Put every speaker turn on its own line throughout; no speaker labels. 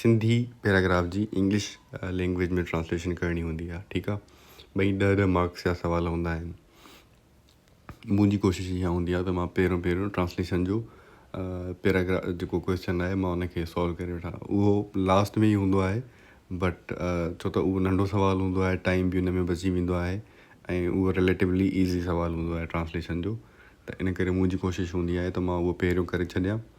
Sindhi paragraph جي English language ۾ translation ڪرڻي هوندي آهي ٺيڪ آهي ٻئي ڏهه ڏهه مارڪس جا سوال هوندا آهن منهنجي ڪوشش اها هوندي آهي ته مان پهريون پهريون ٽرانسليشن جو پيراگراف جيڪو ڪوشچن آهي مان ان کي سالو ڪري وٺان اهو لاسٽ ۾ ئي هوندو آهي بٽ ڇو ته اهو ننڍو سوال هوندو آهي ٽائم بي ان ۾ بچي ويندو آهي ۽ اهو ريليٽولی ايزي سوال هوندو آهي ٽرانسليشن جو ته ان ڪري منهنجي ڪوشش هوندي آهي ته مان اهو پهريون ڪري ڇڏيان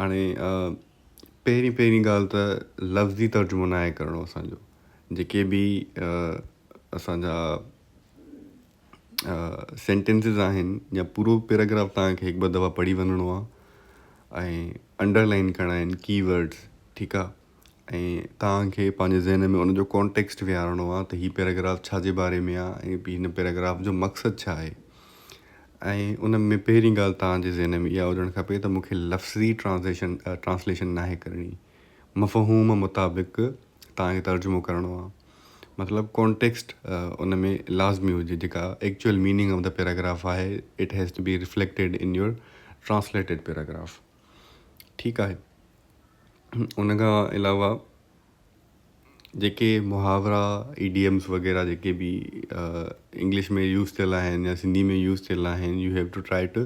هاڻي پهرين پهرين ڳالهه ته لفظي ترجمو نه آهي ڪرڻو اسان جو جيڪي به اسانجا سينٽينسز آهن يا پورو پيراگراف تان کي هڪ ٻه دفعا پڙهي وڃڻو آهي ۽ انڊرلائن ڪرڻا آهن ڪي ورڊز ٺيڪ آهي ۽ توهان کي پنهنجي ذهن ۾ ان جو ڪانٽيڪسٽ ويهارڻو آهي ته هي پيراگراف ڇا جي باري ۾ آهي ۽ هن پيراگراف جو مقصد ڇا آهي ۽ ان ۾ پهرين ڳالهه توهان جي ذهن ۾ اها هجڻ کپي ته مونکي لفظي ٽرانزيشن ٽرانسليشن ناهي ڪرڻي مفهوم مطابق توهان کي ترجمو ڪرڻو آهي مطلب ڪانٽيڪسٽ ان ۾ لازمي هجي جيڪا actual meaning of the paragraph آهي it has to be reflected in your translated paragraph ٺيڪ آهي ان کان علاوه جيڪي محاورا ايڊيمس وغيرہ جيڪي به انگلش ۾ يوز ٿيل آهن يا سنڌي ۾ يوز ٿيل آهن you have to try to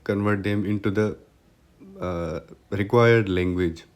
convert them into the required language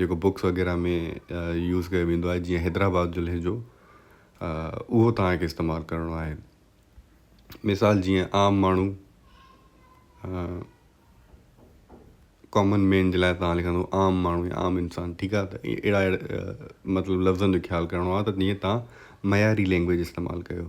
جيڪو بوڪس وغيره ۾ يوز ڪيو ويندو آهي جيئن حيدرآباد جو لهجو اهو توهان کي استعمال ڪرڻو آهي مثال جيئن عام ماڻهو ڪامن مين جي لاء توهان لکندو عام ماڻهو يا عام انسان ٺيڪ آهي ته اهڙا اهڙا مطلب لفظن جو خيال ڪرڻو آهي ته جيئن توهان معياري لينگويج استعمال ڪيو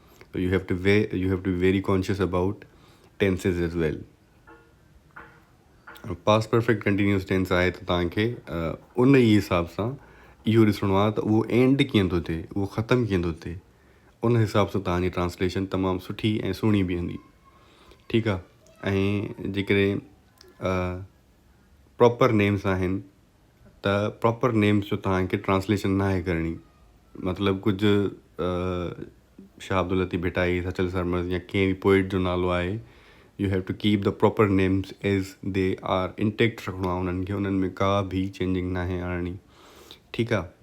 you have to we you have to very conscious about tenses as well past perfect continuous tense آهي ته تان کي ان ئي حساب سان اهو ڏسڻو آهي ته اهو اينڊ ڪيئن ٿو ٿئي اهو ختم ڪيئن ٿو ٿئي ان حساب سان تان جي ٽرانسليشن تمام سٺي ۽ سهڻي بيهندي ٺيڪ آهي ۽ جيڪڏهن پراپر نيمز آهن ته پراپر نيمز جو توهان کي ٽرانسليشن ناهي ڪرڻي مطلب ڪجهه شاهه عبداللطيف ڀٽائي سچل سرمست يا ڪنهن به پوئٽ جو نالو آهي you have to keep the proper names as they are intact رکڻو آهي انهن کي انهن ۾ ڪا به چينجنگ ناهي آڻڻي ٺيڪ آهي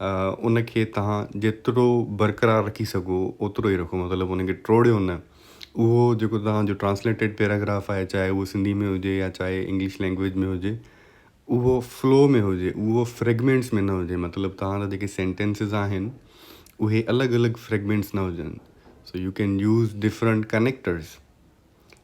ان کي توهان جيترو برقرار رکي سگهو اوترو ئي رکو مطلب ان کي ٽوڙيو نه اهو جيڪو توهان جو ٽرانسليٽيڊ پيراگراف آهي چاهي اهو سنڌي ۾ هجي يا چاهي انگلش لينگويج ۾ هجي اهو فلو ۾ هجي اهو فريگمينٽس ۾ نه هجي مطلب توهان جا جيڪي سينٽينسز آهن اهي الڳ الڳ فريگمينٽس نه هجن so you can use different connectors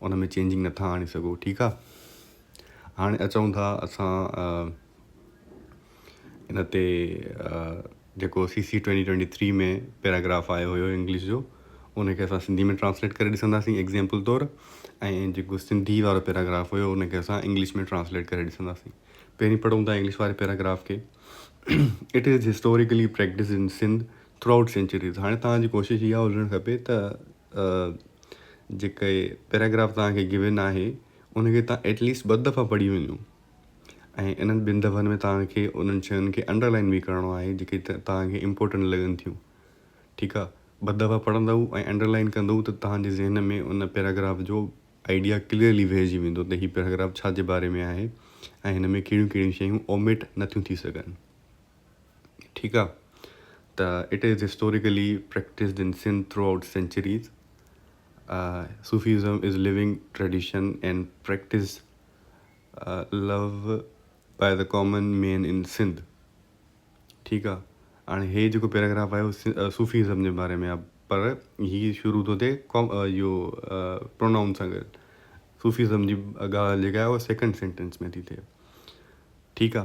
ان ۾ چينجنگ نٿا آڻي سگهو ٺيڪ آ هاڻي اچون ٿا اسان ان تي جيڪو C C twenty twenty three ۾ paragraph آيو هيو انگلش جو ان کي اسان سنڌي ۾ ٽرانسليٽ ڪري ڏسنداسين ايگزامپل طور ۽ جيڪو سنڌي وارو پيراگراف هيو ان کي اسان انگلش ۾ ٽرانسليٽ ڪري ڏسنداسين پهرين پڙهون ٿا انگلش واري پيراگراف کي it is historically practice in Sindh throughout centuries هاڻي توهان جي ڪوشش اها هجڻ کپي ته جيڪي پيراگراف توهان کي گون آهي ان کي توهان ايٽ ليسٽ ٻه دفعا پڙهي وڃو ۽ انهن ٻن دفعن ۾ توهان کي انهن شين کي انڊرلائن به ڪرڻو آهي جيڪي توهان کي امپورٽنٽ لڳن ٿيون ٺيڪ آهي ٻه دفعا پڙهندو ۽ انڊرلائن ڪندو ته توهان جي ذهن ۾ ان پيراگراف جو آئيڊيا ڪليئرلي ويهجي ويندو ته هي پيراگراف ڇا جي باري ۾ آهي ۽ هن ۾ ڪهڙيون ڪهڙيون شيون اوميٽ نٿيون ٿي سگهن ٺيڪ آ ته it is historically practised in Sindh throughout centuries Sufism is living tradition and practice love by the common man in Sindh ٺيڪ آ هاڻي هي جيڪو پيراگراف آيو صوفيزم جي باري ۾ پر هي شروع ٿو ٿئي اهو پرونائون سان گڏ صوفيزم جي ڳالهه جيڪا آهي اها سيڪنڊ سينٽنس ۾ ٿي ٿئي ٺيڪ آ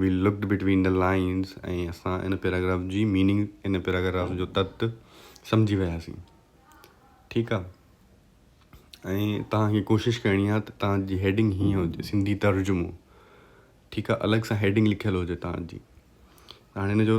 we looked between the lines ۽ اسان ان پيراگراف جي ميننگ ان پيراگراف جو تت سمجهي وياسين ٺيڪ آ ۽ تهان کي ڪوشش ڪرڻي آ ته تهان جي هيڊنگ هي هجي سنڌي ترجمو ٺيڪ آ الڳ سان هيڊنگ لکيل هجي تهان جي هاڻي ان جو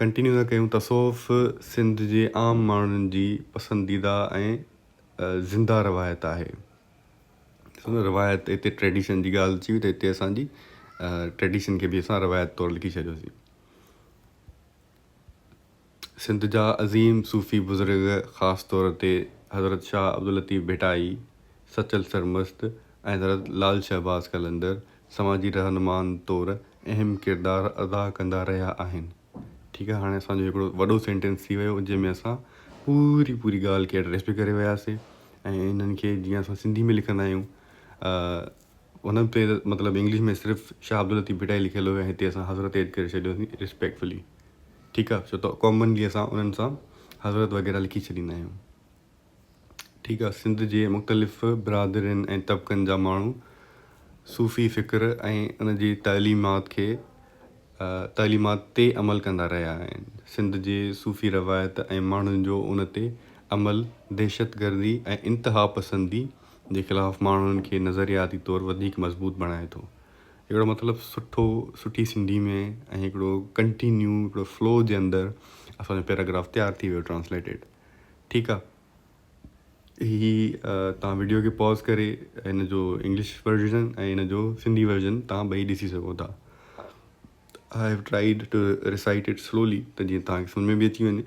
ڪنٽينيو ٿا ڪيون تصوف سنڌ جي عام ماڻهن جي پسنديده ۽ زنده روايت آهي ڏسو نه روايت هتي ٽريڊيشن جي ڳالهه اچي وئي ته هتي اسان جي ٽريڊيشن کي به اسان روايت طور لکي ڇڏيوسين سنڌ جا عظيم صوفي بزرگ خاص طور تي حضرت شاهه عبداللطيف ڀٽائي سچل سرمست ۽ حضرت لال شهباز قلندر سماجي رهنمائن طور اهم ڪردار ادا ڪندا رهيا آهن ٺيڪ آهي هاڻي اسان جو هڪڙو وڏو سينٽينس ٿي ويو جنهن ۾ اسان پوري پوري ڳالهه کي ايڊريس به ڪري وياسين ۽ انهن کي جيئن اسان سنڌي ۾ لکندا آهيون ان تي مطلب انگلش ۾ صرف شاهه عبداللطيف ڀٽائي لکيل هو هتي اسان حضرت ايڊ ڪري ڇڏيوسين ريسپيڪٽفلي ٺيڪ آهي ڇو ته ڪامنلي اسان انهن سان حضرت وغيره لکي ڇڏيندا آهيون ٺيڪ آ سنڌ جي مختلف برادرين ۽ طبقن جا ماڻهو صوفي فڪر ۽ ان جي تعليمات کي تعليمات تي عمل ڪندا رهيا آهن سنڌ جي صوفي روايت ۽ ماڻهن جو ان تي عمل دهشت گردي ۽ انتها پسندي جي خلاف ماڻهن کي نظرياتي طور وڌيڪ مضبوط بڻائي ٿو هڪڙو مطلب سٺو سٺي سنڌي ۾ ۽ هڪڙو ڪنٽينيو هڪڙو فلو جي اندر اسان جو پيراگراف تيار ٿي ويو ٽرانسليٽيڊ. ٺيڪ آ هي توهان وڊيو کي پاز ڪري هن جو انگلش ورزن ۽ هن جو سنڌي ورزن توهان ٻئي ڏسي سگهو ٿا آء هيو tried to recite it slowly ته جيئن توهان کي سمجھ ۾ به اچي وڃي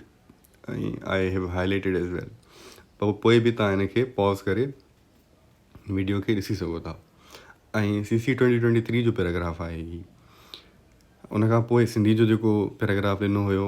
۽ آء هيو هائلائيٽيڊ ايز ويل پر پوء به توهان هن کي پاز ڪري وڊيو کي ڏسي سگهو ٿا ۽ C C twenty twenty three جو پيراگراف آهي هي ان کان پوء سنڌي جو جيڪو پيراگراف ڏنو هيو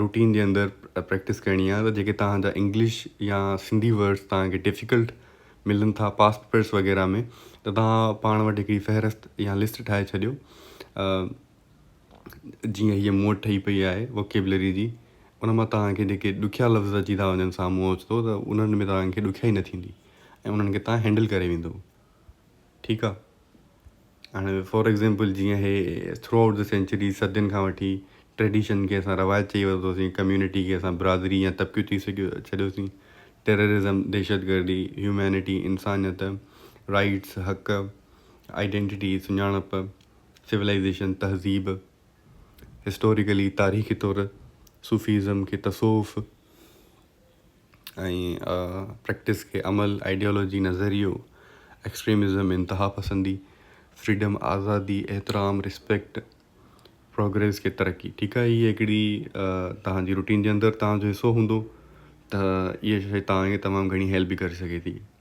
روٽين جي اندر پريڪٽس ڪرڻي آهي جيڪي توهان جا انگلش يا سنڌي ورڊس توهان کي ڊفيڪلٽ ملن ٿا پاس پيپرس وغيره ۾ ته توهان پاڻ وٽ هڪڙي فهرست يا لسٽ ٺاهي ڇڏيو جيئن هيء مون وٽ ٺهي پئي آهي ووڪيبلري جي ان مان توهان کي جيڪي ڏکيا لفظ اچي ٿا وڃن سامهون اوچتو ته انهن ۾ توهان کي ڏکيائي نه ٿيندي ۽ انهن کي توهان هينڊل ڪري ويندو ٺيڪ آ هاڻي فور ايگزيمپل جيئن هي ٿرو آئوٽ دي سينچري صدين کان وٺي ٽريڊيشن کي اسان روايت چئي ورتوسين ڪميونٽي کي اسان برادري يا طبقيو چئي سگهيو ڇڏيوسين ٽيررزم دهشت گردي هيومينٽي انسانيت رائيٽس حق آئيڊينٽي سڃاڻپ سولائيزيشن تهذيب هسٽوريڪلي تاريخي طور صوفيزم کي تصوف ۽ پريڪٽس کي عمل، آئيڊيالاجي، نظريو، ايڪسٽريمزم، انتها پسندي، فريڊم، آزادي، احترام، ريسپيڪٽ، پروگريس کي ترقي. ٺيڪ آهي هي هڪڙي توهان جي روٽين جي اندر توهان جو حصو هوندو ته اهي شيء توهان کي تمام گهڻي هيلپ به ڪري سگهي ٿي.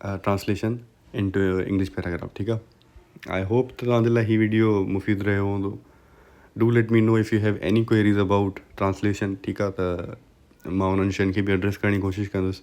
ٽرانسليشن انٽو انگلش پيراگراف ٺيڪ آ آئي هوپ ته توهان جي لاء هي ويڊيو مفيد رهيو هوندو do let me know if you have any queries about translation ٺيڪ آ ته مان انهن شين کي به ايڊريس ڪرڻ جي ڪوشش ڪندس